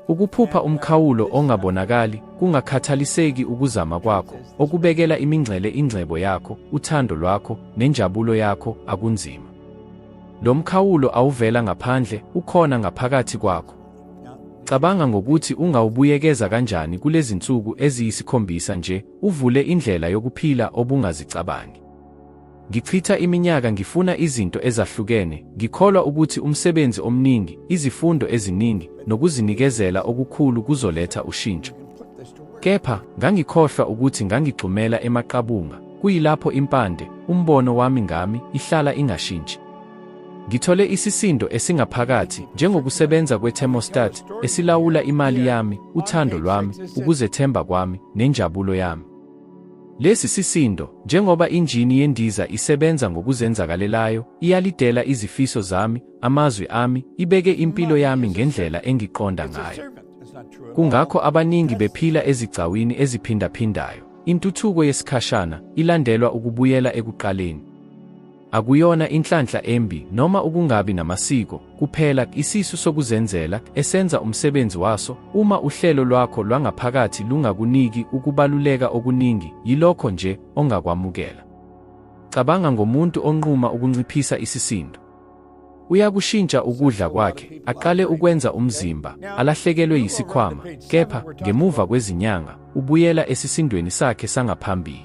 Ukuphupha umkhawulo ongabonakali, kungakhathaliseki ukuzama kwakho, okubekela imingcele ingcebo yakho, uthando lwakho, nenjabulo yakho, akunzima. Lo mkhawulo awuvela ngaphandle, ukhona ngaphakathi kwakho. Cabanga ngokuthi ungawubuyekeza kanjani kulezi nsuku eziyisikhombisa nje, uvule indlela yokuphila obungazicabangi. Ngichitha iminyaka ngifuna izinto ezahlukene, ngikholwa ukuthi umsebenzi omningi, izifundo eziningi, nokuzinikezela okukhulu kuzoletha ushintsho. Kepha, ngangikhohlwa ukuthi ngangigxumela emaqabunga, kuyilapho impande, umbono wami ngami, ihlala ingashintshi. Ngithole isisindo esingaphakathi njengokusebenza kwe-thermostat esilawula imali yami, uthando lwami, ukuzethemba kwami, nenjabulo yami. Lesi sisindo, njengoba injini yendiza isebenza ngokuzenzakalelayo, iyalidela izifiso zami, amazwi ami, ibeke impilo yami ngendlela engiqonda ngayo. Kungakho abaningi bephila ezigcawini eziphindaphindayo. Intuthuko yesikhashana ilandelwa ukubuyela ekuqaleni. Akuyona inhlanhla embi noma ukungabi namasiko kuphela isisu sokuzenzela esenza umsebenzi waso uma uhlelo lwakho lwangaphakathi lungakuniki ukubaluleka okuningi yilokho nje ongakwamukela. Cabanga ngomuntu onquma ukunciphisa isisindo. Uyakushintsha ukudla kwakhe, aqale ukwenza umzimba, alahlekelwe yisikhwama, kepha ngemuva kwezinyanga ubuyela esisindweni sakhe sangaphambili.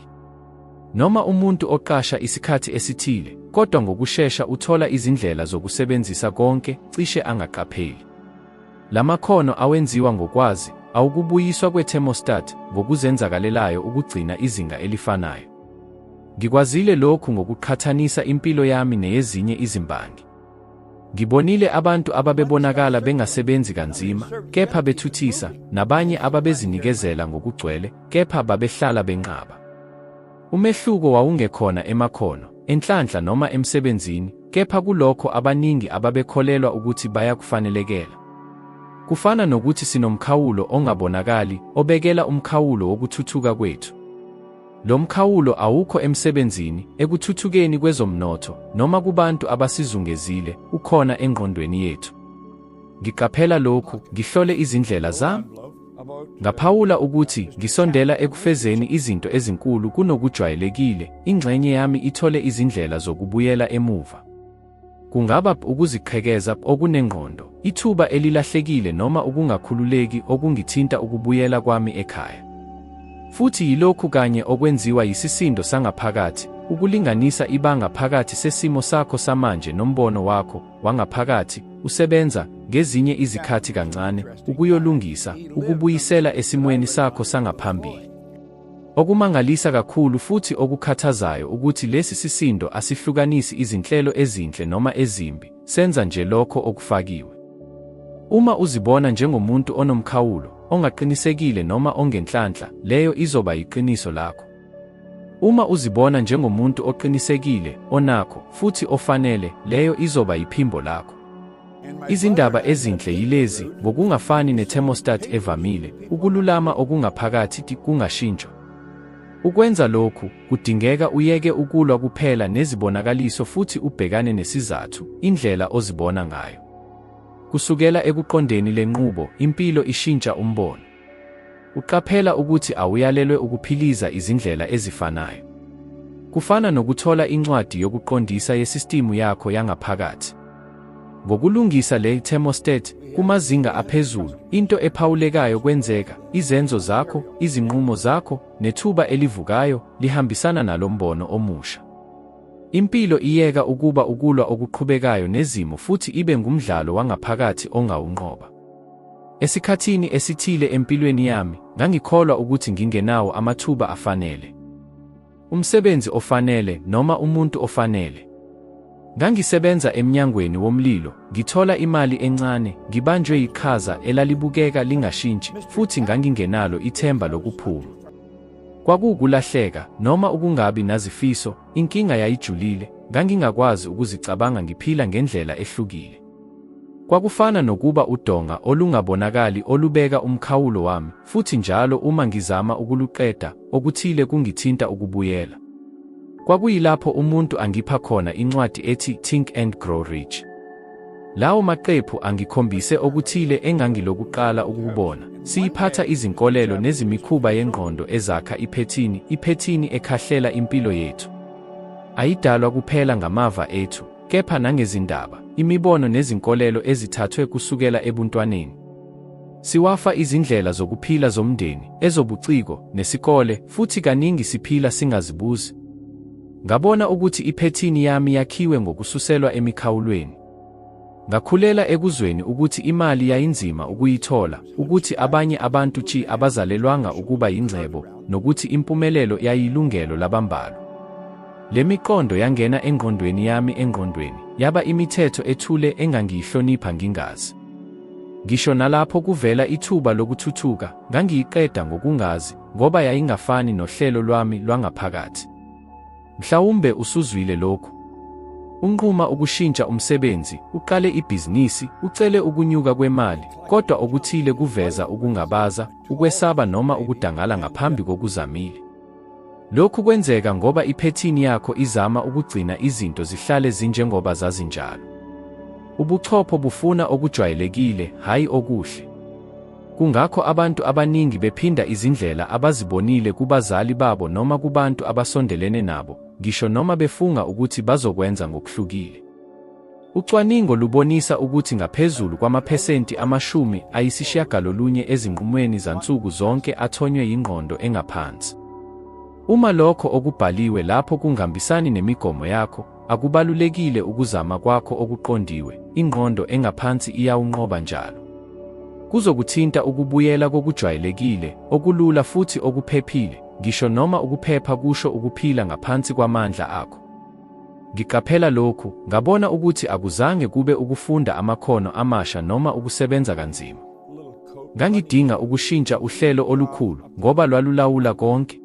Noma umuntu oqasha isikhathi esithile, kodwa ngokushesha uthola izindlela zokusebenzisa konke, cishe angaqapheli. La makhono awenziwa ngokwazi, awukubuyiswa kwe-thermostat ngokuzenzakalelayo ukugcina izinga elifanayo. Ngikwazile lokhu ngokuqhathanisa impilo yami neyezinye izimbangi. Ngibonile abantu ababebonakala bengasebenzi kanzima, kepha bethuthisa, nabanye ababezinikezela ngokugcwele, kepha babehlala benqaba. Umehluko wawungekhona emakhono, enhlanhla noma emsebenzini, kepha kulokho abaningi ababekholelwa ukuthi bayakufanelekela. Kufana nokuthi sinomkhawulo ongabonakali obekela umkhawulo wokuthuthuka kwethu. Lo mkhawulo awukho emsebenzini, ekuthuthukeni kwezomnotho, noma kubantu abasizungezile, ukhona engqondweni yethu. Ngiqaphela lokhu, ngihlole izindlela zami. Ngaphawula ukuthi ngisondela ekufezeni izinto ezinkulu kunokujwayelekile, ingxenye yami ithole izindlela zokubuyela emuva. Kungaba ukuziqhekeza okunengqondo, ithuba elilahlekile noma ukungakhululeki okungithinta ukubuyela kwami ekhaya. Futhi yilokhu kanye okwenziwa yisisindo sangaphakathi, ukulinganisa ibanga phakathi sesimo sakho samanje nombono wakho wangaphakathi, usebenza ngezinye izikhathi kancane ukuyolungisa, ukubuyisela esimweni sakho sangaphambili. Okumangalisa kakhulu futhi okukhathazayo ukuthi lesi sisindo asihlukanisi izinhlelo ezinhle noma ezimbi, senza nje lokho okufakiwe. Uma uzibona njengomuntu onomkhawulo, ongaqinisekile noma ongenhlanhla, leyo izoba yiqiniso lakho. Uma uzibona njengomuntu oqinisekile, onakho, futhi ofanele, leyo izoba yiphimbo lakho. Izindaba ezinhle yilezi, ngokungafani ne-thermostat evamile, ukululama okungaphakathi kungashintshwa. Ukwenza lokhu, kudingeka uyeke ukulwa kuphela nezibonakaliso futhi ubhekane nesizathu, indlela ozibona ngayo. Kusukela ekuqondeni le nqubo, impilo ishintsha umbono. Uqaphela ukuthi awuyalelwe ukuphiliza izindlela ezifanayo. Kufana nokuthola incwadi yokuqondisa yesistimu yakho yangaphakathi. Ngokulungisa le thermostat kumazinga aphezulu, into ephawulekayo kwenzeka, izenzo zakho, izinqumo zakho, nethuba elivukayo lihambisana nalombono omusha. Impilo iyeka ukuba ukulwa okuqhubekayo nezimo futhi ibe ngumdlalo wangaphakathi ongawunqoba. Esikhathini esithile empilweni yami, ngangikholwa ukuthi ngingenawo amathuba afanele, umsebenzi ofanele, noma umuntu ofanele. Ngangisebenza emnyangweni womlilo, ngithola imali encane, ngibanjwe yiqhaza elalibukeka lingashintshi, futhi ngangingenalo ithemba lokuphuma. Kwakuwukulahleka, noma ukungabi nazifiso, inkinga yayijulile, ngangingakwazi ukuzicabanga ngiphila ngendlela ehlukile. Kwakufana nokuba udonga olungabonakali olubeka umkhawulo wami, futhi njalo uma ngizama ukuluqeda, okuthile kungithinta ukubuyela. Kwakuyilapho umuntu angipha khona incwadi ethi Think and Grow Rich. Lawo maqephu angikhombise okuthile engangilokuqala ukukubona, siyiphatha izinkolelo nezimikhuba yengqondo ezakha iphethini, iphethini ekhahlela impilo yethu. Ayidalwa kuphela ngamava ethu, kepha nangezindaba, imibono nezinkolelo ezithathwe kusukela ebuntwaneni. Siwafa izindlela zokuphila zomndeni, ezobuciko, nesikole, futhi kaningi siphila singazibuzi. Ngabona ukuthi iphethini yami yakhiwe ngokususelwa emikhawulweni. Ngakhulela ekuzweni ukuthi imali yayinzima ukuyithola, ukuthi abanye abantu chi abazalelwanga ukuba yingcebo, nokuthi impumelelo yayilungelo labambalwa. Le miqondo yangena engqondweni yami engqondweni, yaba imithetho ethule engangiyihlonipha ngingazi. Ngisho nalapho kuvela ithuba lokuthuthuka, ngangiyiqeda ngokungazi, ngoba yayingafani nohlelo lwami lwangaphakathi. Mhlawumbe usuzwile lokhu. Unquma ukushintsha umsebenzi, uqale ibhizinisi, ucele ukunyuka kwemali, kodwa okuthile kuveza ukungabaza, ukwesaba noma ukudangala ngaphambi kokuzamile. Lokhu kwenzeka ngoba iphethini yakho izama ukugcina izinto zihlale zinjengoba zazinjalo. Ubuchopho bufuna okujwayelekile, hhayi okuhle. Kungakho abantu abaningi bephinda izindlela abazibonile kubazali babo noma kubantu abasondelene nabo, ngisho noma befunga ukuthi bazokwenza ngokuhlukile. Ucwaningo lubonisa ukuthi ngaphezulu kwamaphesenti amashumi ayisishiyagalolunye ezinqumweni zansuku zonke athonywe yingqondo engaphansi. Uma lokho okubhaliwe lapho kungambisani nemigomo yakho, akubalulekile ukuzama kwakho okuqondiwe, ingqondo engaphansi iyawunqoba njalo. Kuzokuthinta ukubuyela kokujwayelekile, okulula futhi okuphephile, ngisho noma ukuphepha kusho ukuphila ngaphansi kwamandla akho. Ngiqaphela lokhu, ngabona ukuthi akuzange kube ukufunda amakhono amasha noma ukusebenza kanzima. Ngangidinga ukushintsha uhlelo olukhulu ngoba lwalulawula konke.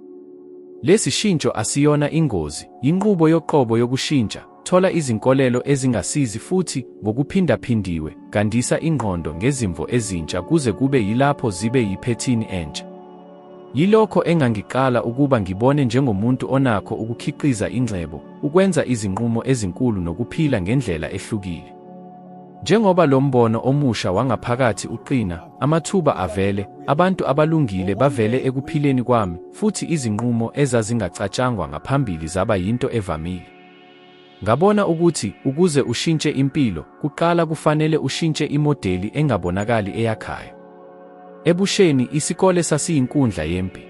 Lesi shintsho asiyona ingozi, yinqubo yoqobo yokushintsha. Thola izinkolelo ezingasizi futhi ngokuphindaphindiwe, gandisa ingqondo ngezimvo ezintsha kuze kube yilapho zibe yiphethini entsha. Yilokho engangiqala ukuba ngibone njengomuntu onakho ukukhiqiza ingcebo, ukwenza izinqumo ezinkulu nokuphila ngendlela ehlukile. Njengoba lo mbono omusha wangaphakathi uqina, amathuba avele, abantu abalungile bavele ekuphileni kwami, futhi izinqumo ezazingacatshangwa ngaphambili zaba yinto evamile. Ngabona ukuthi ukuze ushintshe impilo, kuqala kufanele ushintshe imodeli engabonakali eyakhayo. Ebusheni, isikole sasiyinkundla yempi.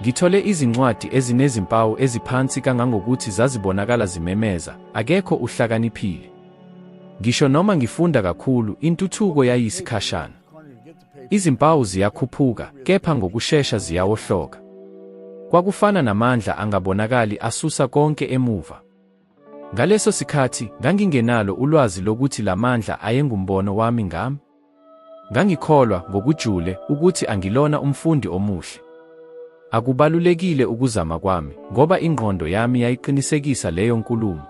Ngithole izincwadi ezinezimpawu eziphansi kangangokuthi zazibonakala zimemeza, akekho uhlakaniphile. Ngisho noma ngifunda kakhulu, intuthuko yayisikhashana. Izimpawu ziyakhuphuka, kepha ngokushesha ziyawohloka. Kwakufana namandla angabonakali asusa konke emuva. Ngaleso sikhathi ngangingenalo ulwazi lokuthi la mandla ayengumbono wami ngami. Ngangikholwa ngokujule ukuthi angilona umfundi omuhle. Akubalulekile ukuzama kwami, ngoba ingqondo yami yayiqinisekisa leyo nkulumo.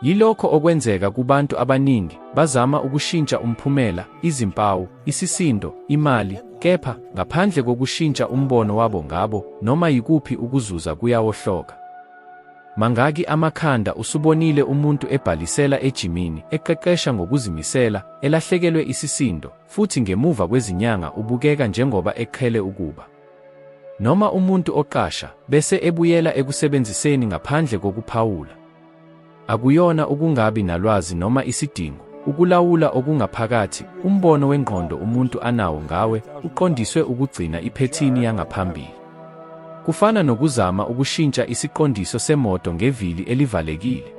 Yilokho okwenzeka kubantu abaningi, bazama ukushintsha umphumela, izimpawu, isisindo, imali, kepha ngaphandle kokushintsha umbono wabo ngabo, noma yikuphi ukuzuza kuyawohloka. Mangaki amakhanda usubonile umuntu ebhalisela ejimini, eqeqesha ngokuzimisela, elahlekelwe isisindo, futhi ngemuva kwezinyanga ubukeka njengoba eqhele ukuba. Noma umuntu oqasha bese ebuyela ekusebenziseni ngaphandle kokuphawula. Akuyona ukungabi nalwazi noma isidingo, ukulawula okungaphakathi, umbono wengqondo umuntu anawo ngawe uqondiswe ukugcina iphethini yangaphambili. Kufana nokuzama ukushintsha isiqondiso semoto ngevili elivalekile.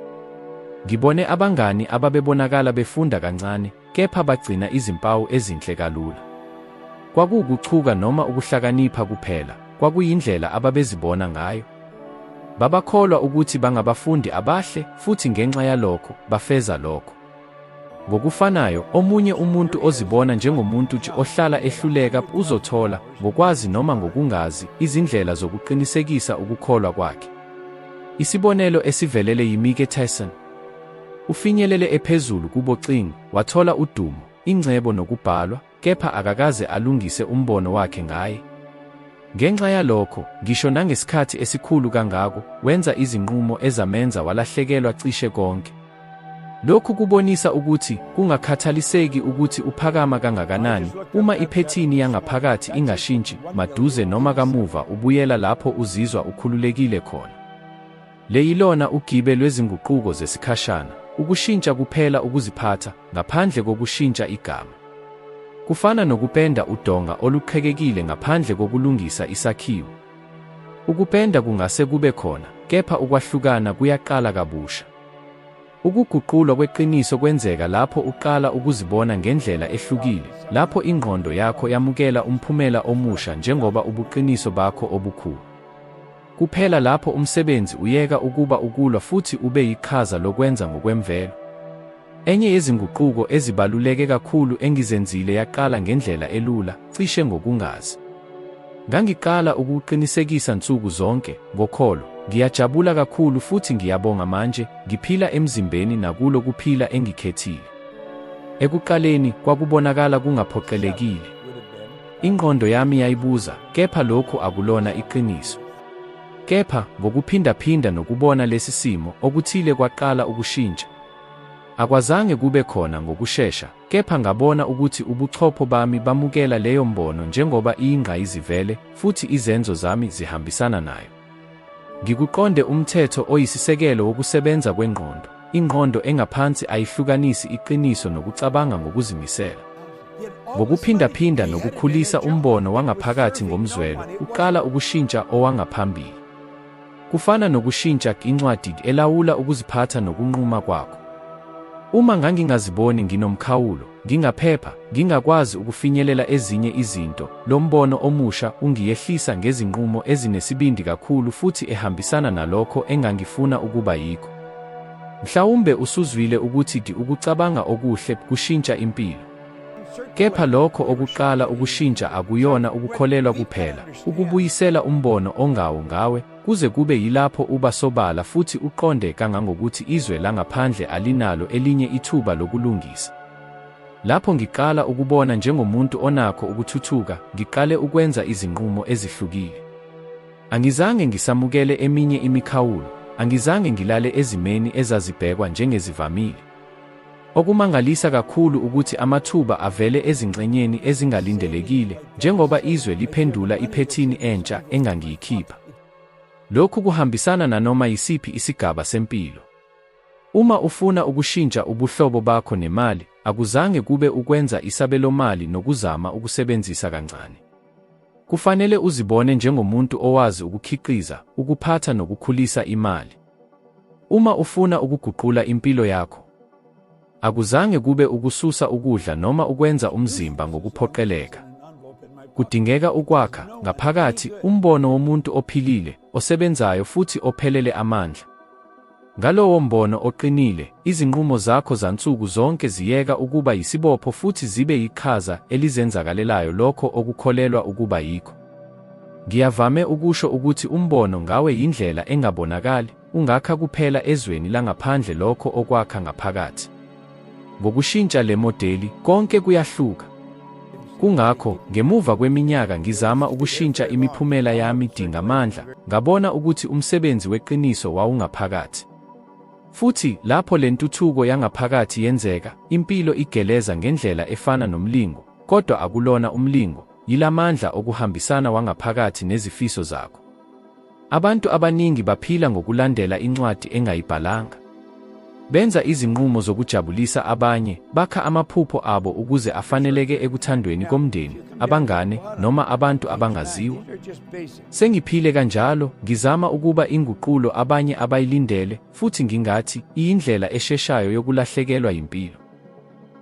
Ngibone abangani ababebonakala befunda kancane kepha bagcina izimpawu ezinhle kalula. Kwakuwukuchuka noma ukuhlakanipha kuphela, kwakuyindlela ababezibona ngayo. Babakholwa ukuthi bangabafundi abahle, futhi ngenxa yalokho, bafeza lokho. Ngokufanayo, omunye umuntu ozibona njengomuntu nje ohlala ehluleka uzothola, ngokwazi noma ngokungazi, izindlela zokuqinisekisa ukukholwa kwakhe. Isibonelo esivelele yiMike Tyson. Ufinyelele ephezulu kubocingo, wathola udumo, ingcebo nokubhalwa, kepha akakaze alungise umbono wakhe ngaye. Ngenxa yalokho, ngisho nangesikhathi esikhulu kangako, wenza izinqumo ezamenza walahlekelwa cishe konke. Lokhu kubonisa ukuthi kungakhathaliseki ukuthi uphakama kangakanani, uma iphethini yangaphakathi ingashintshi, maduze noma kamuva ubuyela lapho uzizwa ukhululekile khona. Le yilona ugibe lwezinguquko zesikhashana, ukushintsha kuphela ukuziphatha, ngaphandle kokushintsha igama. Kufana nokupenda udonga oluqhekekile ngaphandle kokulungisa isakhiwo. Ukupenda kungase kube khona, kepha ukwahlukana kuyaqala kabusha. Ukuguqulwa kweqiniso kwenzeka lapho uqala ukuzibona ngendlela ehlukile, lapho ingqondo yakho yamukela umphumela omusha njengoba ubuqiniso bakho obukhulu. Kuphela lapho umsebenzi uyeka ukuba ukulwa futhi ube yiqhaza lokwenza ngokwemvelo. Enye yezinguquko ezibaluleke kakhulu engizenzile yaqala ngendlela elula, cishe ngokungazi. Ngangiqala ukuqinisekisa nsuku zonke, ngokholo, ngiyajabula kakhulu futhi ngiyabonga manje, ngiphila emzimbeni nakulo kuphila engikhethile. Ekuqaleni, kwakubonakala kungaphoqelekile. Ingqondo yami yayibuza, kepha lokhu akulona iqiniso. Kepha, ngokuphindaphinda nokubona lesi simo, okuthile kwaqala ukushintsha. Akwazange kube khona ngokushesha, kepha ngabona ukuthi ubuchopho bami bamukela leyo mbono njengoba iyingqayizivele, futhi izenzo zami zihambisana nayo. Ngikuqonde umthetho oyisisekelo wokusebenza kwengqondo. Ingqondo engaphansi ayihlukanisi iqiniso nokucabanga ngokuzimisela. Ngokuphindaphinda nokukhulisa umbono wangaphakathi ngomzwelo, uqala ukushintsha owangaphambili. Kufana nokushintsha incwadi elawula ukuziphatha nokunquma kwakho. Uma ngangingaziboni nginomkhawulo, Ngingaphepha, ngingakwazi ukufinyelela ezinye izinto. Lo mbono omusha ungiyehlisa ngezinqumo ezinesibindi kakhulu futhi ehambisana nalokho engangifuna ukuba yikho. Mhlawumbe usuzwile ukuthi di ukucabanga okuhle kushintsha impilo. Kepha lokho okuqala ukushintsha akuyona ukukholelwa kuphela, ukubuyisela umbono ongawo ngawe, Kuze kube yilapho uba sobala futhi uqonde kangangokuthi izwe langaphandle alinalo elinye ithuba lokulungisa. Lapho ngiqala ukubona njengomuntu onakho ukuthuthuka, ngiqale ukwenza izinqumo ezihlukile. Angizange ngisamukele eminye imikhawulo, angizange ngilale ezimeni ezazibhekwa njengezivamile. Okumangalisa kakhulu ukuthi amathuba avele ezingxenyeni ezingalindelekile njengoba izwe liphendula iphethini entsha engangiyikhipha. Lokhu kuhambisana nanoma yisiphi isigaba sempilo. Uma ufuna ukushintsha ubuhlobo bakho nemali, akuzange kube ukwenza isabelomali nokuzama ukusebenzisa kancane. Kufanele uzibone njengomuntu owazi ukukhiqiza, ukuphatha nokukhulisa imali. Uma ufuna ukuguqula impilo yakho, akuzange kube ukususa ukudla noma ukwenza umzimba ngokuphoqeleka. Kudingeka ukwakha ngaphakathi umbono womuntu ophilile, osebenzayo futhi ophelele amandla. Ngalowo mbono oqinile, izinqumo zakho zansuku zonke ziyeka ukuba yisibopho futhi zibe yiqhaza elizenzakalelayo lokho okukholelwa ukuba yikho. Ngiyavame ukusho ukuthi umbono ngawe yindlela engabonakali, ungakha kuphela ezweni langaphandle lokho okwakha ngaphakathi. Ngokushintsha le modeli, konke kuyahluka. Kungakho, ngemuva kweminyaka ngizama ukushintsha imiphumela yami dingamandla, ngabona ukuthi umsebenzi weqiniso wawungaphakathi. Futhi lapho le ntuthuko yangaphakathi yenzeka, impilo igeleza ngendlela efana nomlingo, kodwa akulona umlingo, Yila mandla okuhambisana wangaphakathi nezifiso zakho. Abantu abaningi baphila ngokulandela incwadi engayibhalanga. Benza izinqumo zokujabulisa abanye, bakha amaphupho abo ukuze afaneleke ekuthandweni komndeni, abangane, noma abantu abangaziwa. Sengiphile kanjalo, ngizama ukuba inguqulo abanye abayilindele, futhi ngingathi iyindlela esheshayo yokulahlekelwa yimpilo.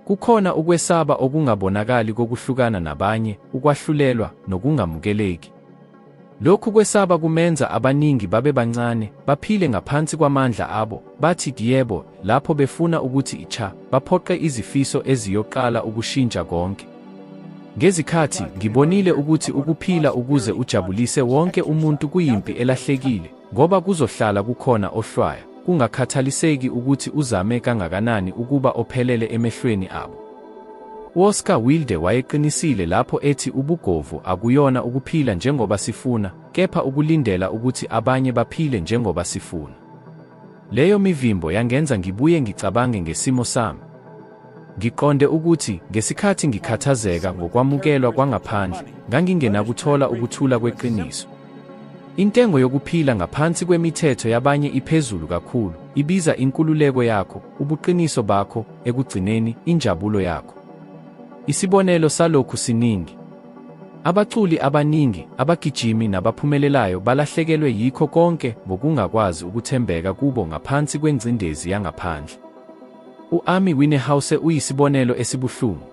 Kukhona ukwesaba okungabonakali kokuhlukana nabanye, ukwahlulelwa, nokungamukeleki. Lokhu kwesaba kumenza abaningi babe bancane, baphile ngaphansi kwamandla abo, bathi yebo lapho befuna ukuthi icha, baphoqe izifiso eziyoqala ukushintsha konke. Ngezikhathi ngibonile ukuthi ukuphila ukuze ujabulise wonke umuntu kuyimpi elahlekile, Ngoba kuzohlala kukhona ohlwaya, kungakhathaliseki ukuthi uzame kangakanani ukuba ophelele emehlweni abo. UOscar Wilde wayeqinisile lapho ethi ubugovu akuyona ukuphila njengoba sifuna, kepha ukulindela ukuthi abanye baphile njengoba sifuna. Leyo mivimbo yangenza ngibuye ngicabange ngesimo sami. Ngiqonde ukuthi ngesikhathi ngikhathazeka ngokwamukelwa kwangaphandle, ngangingenakuthola ukuthula kweqiniso. Intengo yokuphila ngaphansi kwemithetho yabanye iphezulu kakhulu, ibiza inkululeko yakho, ubuqiniso bakho, ekugcineni, injabulo yakho. Isibonelo salokhu siningi. Abaculi abaningi, abagijimi nabaphumelelayo balahlekelwe yikho konke ngokungakwazi ukuthembeka kubo ngaphansi kwengcindezi yangaphandle. U-Amy Winehouse uyisibonelo esibuhlungu.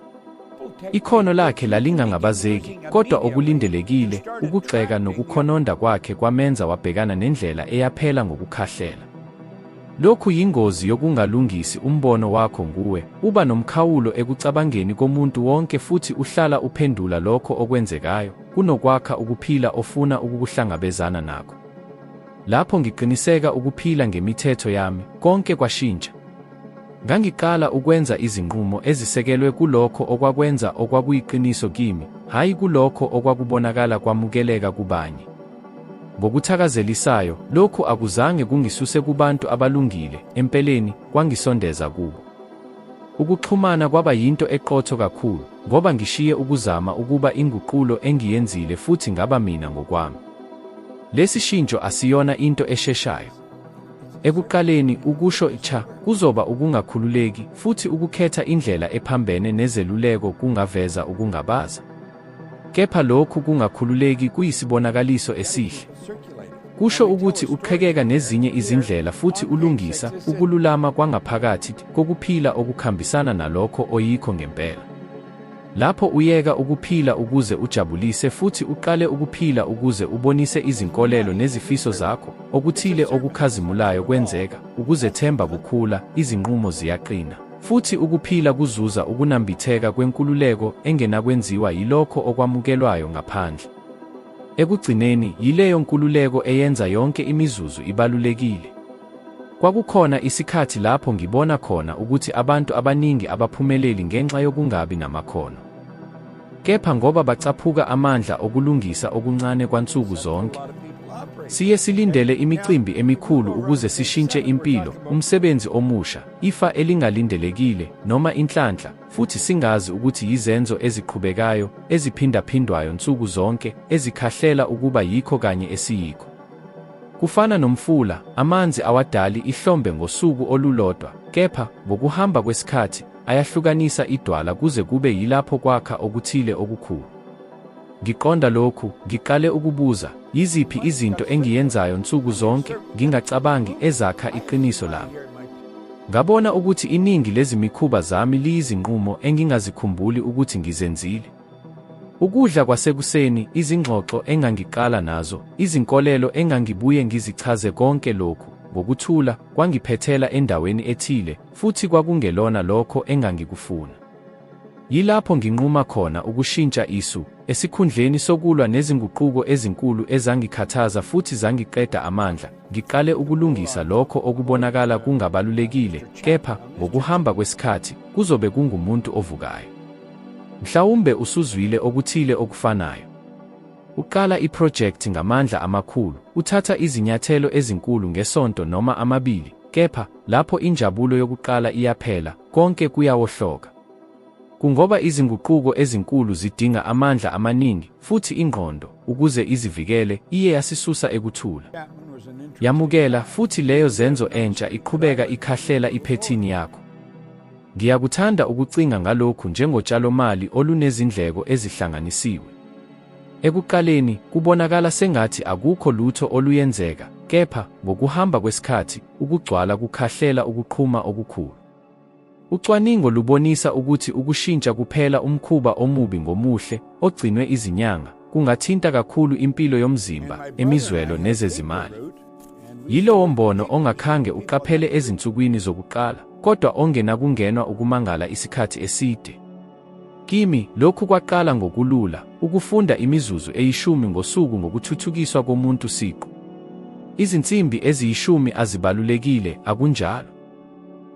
Ikhono lakhe lalingangabazeki, kodwa okulindelekile, ukugxeka nokukhononda kwakhe kwamenza wabhekana nendlela eyaphela ngokukhahlela. Lokhu yingozi yokungalungisi umbono wakho nguwe, uba nomkhawulo ekucabangeni komuntu wonke futhi uhlala uphendula lokho okwenzekayo, kunokwakha ukuphila ofuna ukukuhlangabezana nakho. Lapho ngiqiniseka ukuphila ngemithetho yami, konke kwashintsha. Ngangiqala ukwenza izinqumo ezisekelwe kulokho okwakwenza okwakuyiqiniso kimi, hhayi kulokho okwakubonakala kwamukeleka kubanye. Ngokuthakazelisayo, lokhu akuzange kungisuse kubantu abalungile, empeleni, kwangisondeza kubo. Ukuxhumana kwaba yinto eqotho kakhulu, ngoba ngishiye ukuzama ukuba inguqulo engiyenzile futhi ngaba mina ngokwami. Lesi shintsho asiyona into esheshayo. Ekuqaleni, ukusho cha kuzoba ukungakhululeki, futhi ukukhetha indlela ephambene nezeluleko kungaveza ukungabaza. Kepha lokhu kungakhululeki kuyisibonakaliso esihle. Kusho ukuthi uqhekeka nezinye izindlela futhi ulungisa ukululama kwangaphakathi kokuphila okukhambisana nalokho oyikho ngempela. Lapho uyeka ukuphila ukuze ujabulise futhi uqale ukuphila ukuze ubonise izinkolelo nezifiso zakho, okuthile okukhazimulayo kwenzeka, ukuzethemba kukhula, izinqumo ziyaqina. Futhi ukuphila kuzuza ukunambitheka kwenkululeko engenakwenziwa yilokho okwamukelwayo ngaphandle. Ekugcineni, yileyo nkululeko eyenza yonke imizuzu ibalulekile. Kwakukhona isikhathi lapho ngibona khona ukuthi abantu abaningi abaphumeleli ngenxa yokungabi namakhono. Kepha ngoba bacaphuka amandla okulungisa okuncane kwansuku zonke, Siye silindele imicimbi emikhulu ukuze sishintshe impilo, umsebenzi omusha, ifa elingalindelekile, noma inhlanhla, futhi singazi ukuthi yizenzo eziqhubekayo, eziphindaphindwayo nsuku zonke, ezikhahlela ukuba yikho kanye esiyikho. Kufana nomfula, amanzi awadali ihlombe ngosuku olulodwa, kepha, ngokuhamba kwesikhathi, ayahlukanisa idwala kuze kube yilapho kwakha okuthile okukhulu. Ngiqonda lokhu, ngiqale ukubuza, yiziphi izinto engiyenzayo nsuku zonke, ngingacabangi, ezakha iqiniso lami. Ngabona ukuthi iningi lezimikhuba zami liyizinqumo engingazikhumbuli ukuthi ngizenzile. Ukudla kwasekuseni, izingxoxo engangiqala nazo, izinkolelo engangibuye ngizichaze konke lokhu, ngokuthula, kwangiphethela endaweni ethile, futhi kwakungelona lokho engangikufuna. Yilapho nginquma khona ukushintsha isu, esikhundleni sokulwa nezinguquko ezinkulu ezangikhathaza futhi zangiqeda amandla, ngiqale ukulungisa lokho okubonakala kungabalulekile, kepha ngokuhamba kwesikhathi kuzobe kungumuntu ovukayo. Mhlawumbe usuzwile okuthile okufanayo. Uqala iphrojekthi ngamandla amakhulu, uthatha izinyathelo ezinkulu ngesonto noma amabili, Kepha, lapho injabulo yokuqala iyaphela, konke kuyawohloka. Kungoba izinguquko ezinkulu zidinga amandla amaningi, futhi ingqondo, ukuze izivikele, iye yasisusa ekuthula. Yamukela, futhi leyo zenzo entsha iqhubeka ikhahlela iphethini yakho. Ngiyakuthanda ukucinga ngalokhu njengotshalomali olunezindleko ezihlanganisiwe. Ekuqaleni kubonakala sengathi akukho lutho oluyenzeka, kepha ngokuhamba kwesikhathi ukugcwala kukhahlela ukuqhuma okukhulu. Ucwaningo lubonisa ukuthi ukushintsha kuphela umkhuba omubi ngomuhle ogcinwe izinyanga kungathinta kakhulu impilo yomzimba, emizwelo nezezimali. Yilowo mbono ongakhange uqaphele ezinsukwini zokuqala, kodwa ongenakungenwa ukumangala isikhathi eside. Kimi, lokhu kwaqala ngokulula, ukufunda imizuzu eyishumi ngosuku ngokuthuthukiswa komuntu siqu. Izinsimbi eziyishumi azibalulekile, akunjalo?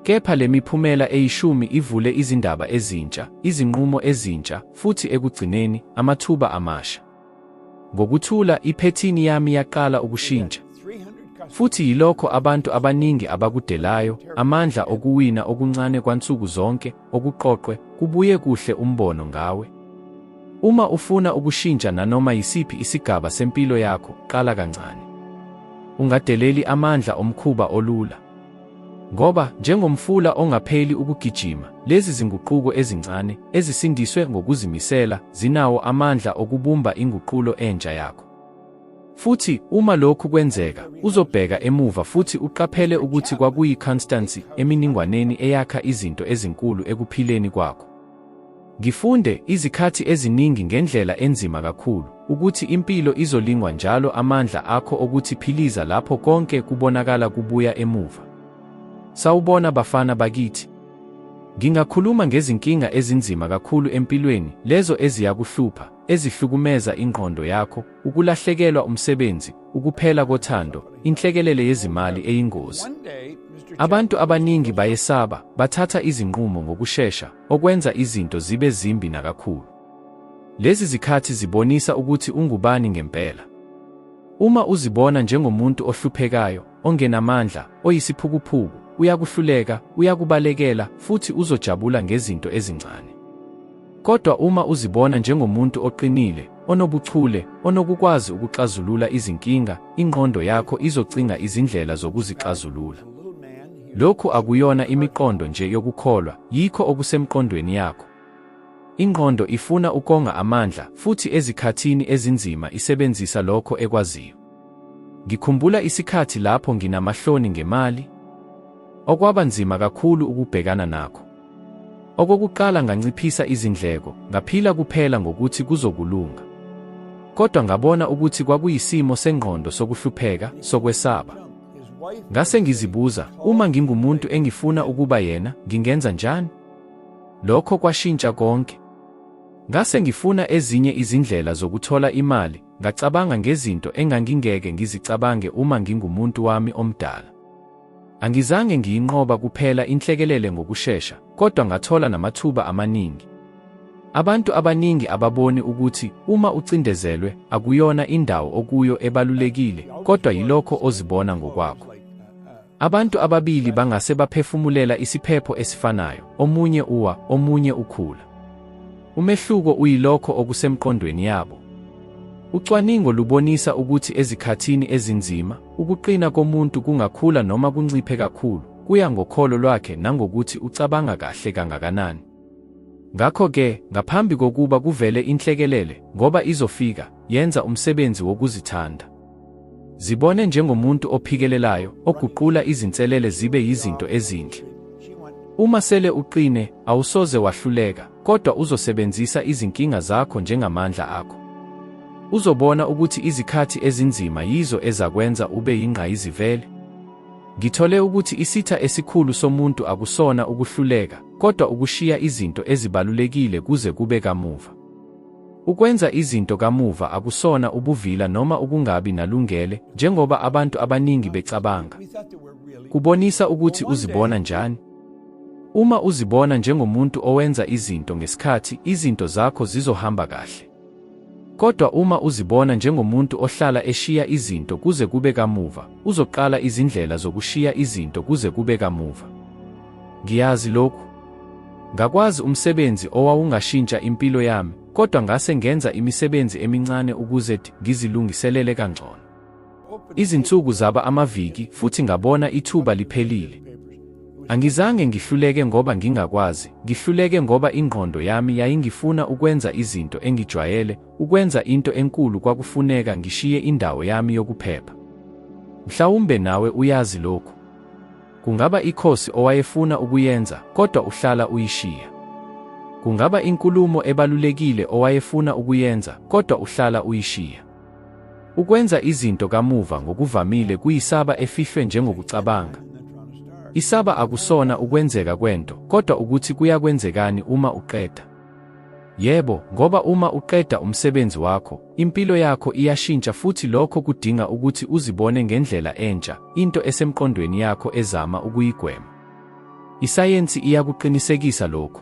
Kepha le miphumela eyishumi ivule izindaba ezintsha, izinqumo ezintsha, futhi ekugcineni, amathuba amasha. Ngokuthula, iphethini yami yaqala ukushintsha. Futhi yilokho abantu abaningi abakudelayo, amandla okuwina okuncane kwansuku zonke, okuqoqwe kubuye kuhle umbono ngawe. Uma ufuna ukushintsha nanoma yisiphi isigaba sempilo yakho, qala kancane. Ungadeleli amandla omkhuba olula. Ngoba njengomfula ongapheli ukugijima, lezi zinguquko ezincane ezisindiswe ngokuzimisela zinawo amandla okubumba inguqulo entsha yakho. Futhi uma lokhu kwenzeka, uzobheka emuva futhi uqaphele ukuthi kwakuyiconstancy eminingwaneni eyakha izinto ezinkulu ekuphileni kwakho. Ngifunde izikhathi eziningi ngendlela enzima kakhulu ukuthi impilo izolingwa njalo amandla akho okuthi philiza lapho konke kubonakala kubuya emuva. Sawubona bafana bakithi. Ngingakhuluma ngezinkinga ezinzima kakhulu empilweni, lezo eziyakuhlupha, ezihlukumeza ingqondo yakho, ukulahlekelwa umsebenzi, ukuphela kothando, inhlekelele yezimali eyingozi. Abantu abaningi bayesaba, bathatha izinqumo ngokushesha, okwenza izinto zibe zimbi nakakhulu. Lezi zikhathi zibonisa ukuthi ungubani ngempela. Uma uzibona njengomuntu ohluphekayo, ongenamandla, oyisiphukuphuku, uyakuhluleka, uyakubalekela, futhi uzojabula ngezinto ezincane. Kodwa uma uzibona njengomuntu oqinile, onobuchule, onokukwazi ukuxazulula izinkinga, ingqondo yakho izocinga izindlela zokuzixazulula. Lokhu akuyona imiqondo nje yokukholwa, yikho okusemqondweni yakho. Ingqondo ifuna ukonga amandla futhi ezikhathini ezinzima isebenzisa lokho ekwaziyo. Ngikhumbula isikhathi lapho nginamahloni ngemali, okwaba nzima kakhulu ukubhekana nakho. Okokuqala nganciphisa izindleko, ngaphila kuphela ngokuthi kuzokulunga. Kodwa ngabona ukuthi kwakuyisimo sengqondo sokuhlupheka, sokwesaba. Ngase ngizibuza, uma ngingumuntu engifuna ukuba yena, ngingenza njani? Lokho kwashintsha konke. Ngase ngifuna ezinye izindlela zokuthola imali, Ngacabanga ngezinto engangingeke ngizicabange uma ngingumuntu wami omdala. Angizange ngiyinqoba kuphela inhlekelele ngokushesha, kodwa ngathola namathuba amaningi. Abantu abaningi ababoni ukuthi uma ucindezelwe akuyona indawo okuyo ebalulekile, kodwa yilokho ozibona ngokwakho. Abantu ababili bangase baphefumulela isiphepho esifanayo, omunye uwa, omunye ukhula. Umehluko uyilokho okusemqondweni yabo. Ucwaningo lubonisa ukuthi ezikhathini ezinzima, ukuqina komuntu kungakhula noma kunciphe kakhulu, kuya ngokholo lwakhe nangokuthi ucabanga kahle kangakanani. Ngakho-ke, ngaphambi kokuba kuvele inhlekelele, ngoba izofika, yenza umsebenzi wokuzithanda. Zibone njengomuntu ophikelelayo, oguqula izinselele zibe yizinto ezinhle. Uma sele uqine, awusoze wahluleka, kodwa uzosebenzisa izinkinga zakho njengamandla akho. Uzobona ukuthi izikhathi ezinzima yizo ezakwenza ube yingqayizivele. Ngithole ukuthi isitha esikhulu somuntu akusona ukuhluleka, kodwa ukushiya izinto ezibalulekile kuze kube kamuva. Ukwenza izinto kamuva akusona ubuvila noma ukungabi nalungele, njengoba abantu abaningi becabanga. Kubonisa ukuthi uzibona njani. Uma uzibona njengomuntu owenza izinto ngesikhathi, izinto zakho zizohamba kahle. Kodwa uma uzibona njengomuntu ohlala eshiya izinto kuze kube kamuva, uzoqala izindlela zokushiya izinto kuze kube kamuva. Ngiyazi lokhu. Ngakwazi umsebenzi owawungashintsha impilo yami, kodwa ngase ngenza imisebenzi emincane ukuze ngizilungiselele kangcono. Izinsuku zaba amaviki futhi ngabona ithuba liphelile. Angizange ngihluleke ngoba ngingakwazi, ngihluleke ngoba ingqondo yami yayingifuna ukwenza izinto engijwayele, ukwenza into enkulu kwakufuneka ngishiye indawo yami yokuphepha. Mhlawumbe nawe uyazi lokhu. Kungaba ikhosi owayefuna ukuyenza kodwa uhlala uyishiya. Kungaba inkulumo ebalulekile owayefuna ukuyenza kodwa uhlala uyishiya. Ukwenza izinto kamuva ngokuvamile kuyisaba efihlwe njengokucabanga. Isaba akusona ukwenzeka kwento kodwa ukuthi kuyakwenzekani uma uqeda. Yebo, ngoba uma uqeda umsebenzi wakho, impilo yakho iyashintsha futhi lokho kudinga ukuthi uzibone ngendlela entsha, into esemqondweni yakho ezama ukuyigwema. Isayensi iyakuqinisekisa lokhu.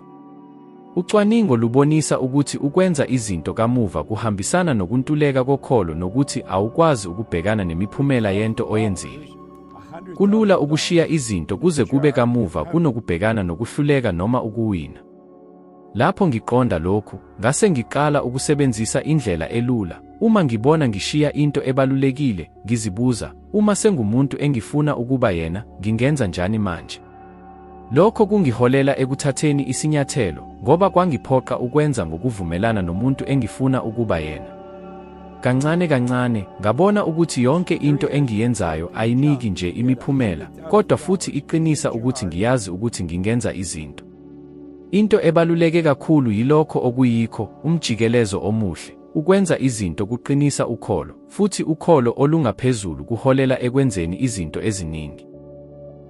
Ucwaningo lubonisa ukuthi ukwenza izinto kamuva kuhambisana nokuntuleka kokholo nokuthi awukwazi ukubhekana nemiphumela yento oyenzile. Kulula ukushiya izinto kuze kube kamuva kunokubhekana nokuhluleka noma ukuwina. Lapho ngiqonda lokhu, ngase ngiqala ukusebenzisa indlela elula. Uma ngibona ngishiya into ebalulekile, ngizibuza, uma sengumuntu engifuna ukuba yena, ngingenza njani manje? Lokho kungiholela ekuthatheni isinyathelo, ngoba kwangiphoqa ukwenza ngokuvumelana nomuntu engifuna ukuba yena. Kancane kancane, ngabona ukuthi yonke into engiyenzayo ayiniki nje imiphumela, kodwa futhi iqinisa ukuthi ngiyazi ukuthi ngingenza izinto. Into ebaluleke kakhulu yilokho okuyikho, umjikelezo omuhle. Ukwenza izinto kuqinisa ukholo, futhi ukholo olungaphezulu kuholela ekwenzeni izinto eziningi.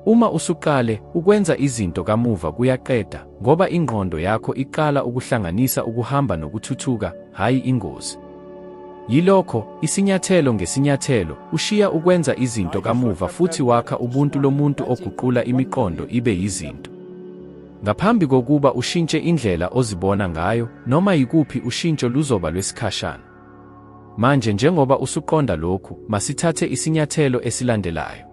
Uma usuqale, ukwenza izinto kamuva kuyaqeda, ngoba ingqondo yakho iqala ukuhlanganisa ukuhamba nokuthuthuka, hhayi ingozi. Yilokho, isinyathelo ngesinyathelo, ushiya ukwenza izinto kamuva futhi wakha ubuntu lomuntu oguqula imiqondo ibe yizinto. Ngaphambi kokuba ushintshe indlela ozibona ngayo, noma yikuphi ushintsho luzoba lwesikhashana. Manje njengoba usuqonda lokhu, masithathe isinyathelo esilandelayo.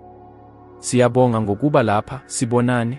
Siyabonga ngokuba lapha, sibonane.